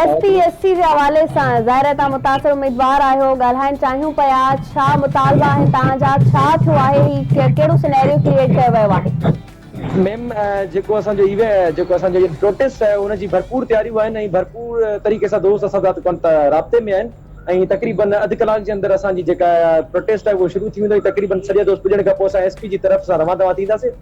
S P S C جي حوالي سان ظاهر آهي توهان متاثر اميدوار آهيو ڳالهائڻ چاهيون پيا ڇا مطالبا آهن توهان جا ڇا ٿيو آهي هي ڪهڙو سنئريو ڪريئيٽ ڪيو ويو آهي. ميم جيڪو اسان جو ايوي جيڪو اسان جو پروٽيسٽ آهي ان جي ڀرپور تياريون آهن ۽ ڀرپور طريقي سان دوست اسان سان ڪن ته رابطي ۾ آهن ۽ تقريبا اڌ ڪلاڪ جي اندر اسان جي جيڪا پروٽيسٽ آهي اهو شروع ٿي ويندو ۽ تقريبا سڄا دوست پڄڻ کان پوء اسان ايس پي جي طرف سان روان دوان ٿينداسين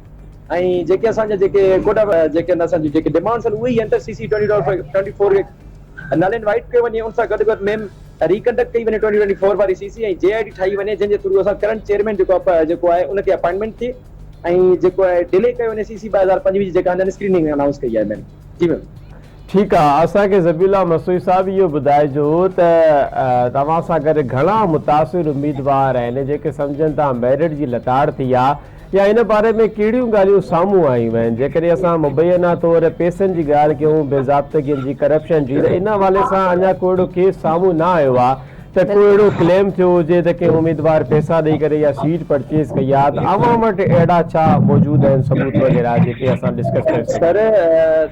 ۽ جيڪي اسان جا جيڪي ڪوٽا جيڪي آهن اسان جون جيڪي ڊمانڊس آهن اهي ئي inter C C twenty twenty four twenty four کي نل اينڊ وائيڊ ڪيو وڃي ان سان گڏ گڏ ميم ري ڪنڊڪٽ ڪئي وڃي ٽوئنٽي ٽوئنٽي فور واري سي سي ۽ جي آء ڊي ٺاهي وڃي جنهن جي ٿرو اسان ڪرنٽ چيئرمين جيڪو آهي جيڪو آهي ان کي اپائنٽمينٽ ٿئي ۽ جيڪو آهي ڊلي ڪيو وڃي سي سي ٻه هزار پنجويهه جي جيڪا هن اسڪريننگ انائونس ڪئي آهي ميم جي ميم ٺيڪ آ اسان کي ذبيحالله مسوي صاحب اهو ٻڌائجو ته توهان سان گڏ گهڻا متاثر اميدوار آهن جيڪي سمجهن ٿا ميرٽ جي لتاڙ ٿي آ يا ان باري ۾ ڪهڙيون ڳالهيون سامهون آيون آهن جيڪڏهن اسان مبينا طور پيسن جي ڳالهه ڪيون بي ضابطگين جي ڪرپشن جي ته ان حوالي سان اڃا ڪو اهڙو ڪيس سامهون نه آيو آ ته ڪو اهڙو ڪليم ٿيو هجي ته ڪنهن اميدوار پئسا ڏئي ڪري يا سيٽ پرچيز ڪئي آهي ته اوهان وٽ اهڙا ڇا موجود آهن ثبوت وغيره جيڪي اسان ڊسڪس ڪري سگهون. سر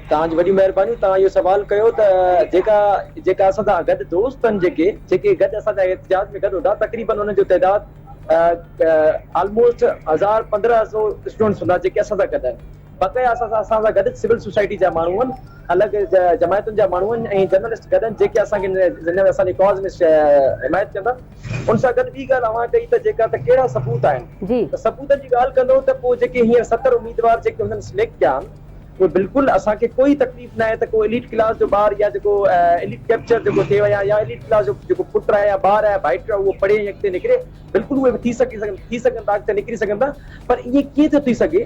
توهان جي وڏيون مهربانيون توهان اهو سوال ڪيو ته جيڪا جيڪا اسان سان گڏ دوست آهن جيڪي جيڪي گڏ اسان سان احتجاج ۾ گڏ هوندا تقريبن انهن جو تعداد آلموسٽ هزار پندرهن سو اسٽوڊنٽس هوندا جيڪي اسان سان گڏ آهن بقايا اسان سان اسان سان گڏ سول سوسائٽي جا ماڻهو آهن، الڳ جماعتن جا ماڻهو آهن ۽ جرنلسٽ گڏ آهن جيڪي اسان کي جن اسان جي ڪاز ۾ حمايت ڪندا. ان سان گڏ ٻي ڳالهه اوهان ڪئي ته جيڪا ته ڪهڙا ثبوت آهن؟ جي. ته ثبوتن جي ڳالهه ڪندو ته پوء جيڪي هينئر ستر اميدوار جيڪي هنن سليڪٽ ڪيا آهن اهي بلڪل اسان کي ڪوئي تڪليف ناهي ته ڪو اليٽ ڪلاس جو ٻار يا جيڪو اليٽ ڪيپچر جيڪو ٿئي يا يا اليٽ ڪلاس جو جيڪو پٽ آهي يا ٻار آهي ڀائٽ آهي اهو پڙهي ۽ اڳتي نڪري بلڪل اهي به ٿي سگهي ٿي سگهن ٿا اڳتي نڪري سگهن ٿا پر ائين ڪيئن ٿو ٿي سگهي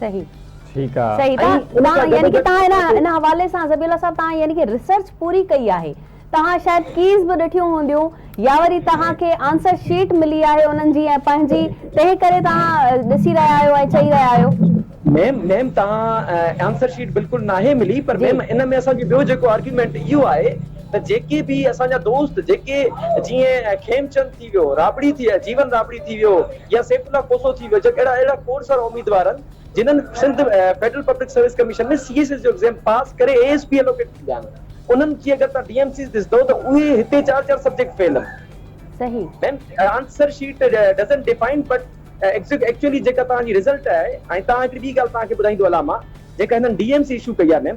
صحيح. ٺيڪ آ. صحيح تان تان يعني ڪي تان هنا هن حوالي سان ذبيح الله صاحب تان يعني ڪي ريسرچ پوري ڪئي آهي تان شايد ڪيز به ڏٺيون هونديون يا وري تان کي آنسر شيٽ ملي آهي انهن جي ۽ پنهنجي تنهن ڪري تان ڏسي رهيا آهيو ۽ چئي رهيا آهيو. ميم ميم تان آنسر شيٽ بلڪل ناهي ملي پر ميم ان ۾ اسان جو ٻيو جيڪو آرگيومينٽ اهو آهي ته جيڪي به اسان جا دوست جيڪي جيئن کيمچند ٿي ٿي ويو، رابڙي ٿي، جيون رابڙي ٿي ويو يا سيف الله کوسو ٿي ويو جهڙا اهڙا اهڙا کوڙ سارا اميدوار آهن جنھن Sindh federal public service commission ۾ C S S جو ايگزيم پاس ڪري اي ايس پي الوڪيٽ ٿي ويا آهن انھن جي اگر توھان ڊي ايم سيز ڏسندؤ ته اهي هتي چار چار سبجيڪٽ فيل آهن. صحيح. Ma'am answer sheet doesn't define but actually جيڪا توهان جي رزلٽ آهي ۽ توهان هڪڙي ٻي ڳالهه توهان کي ٻڌائيندو هلان مان جيڪا هنن ڊي ايم سي اشو ڪئي آهي ميم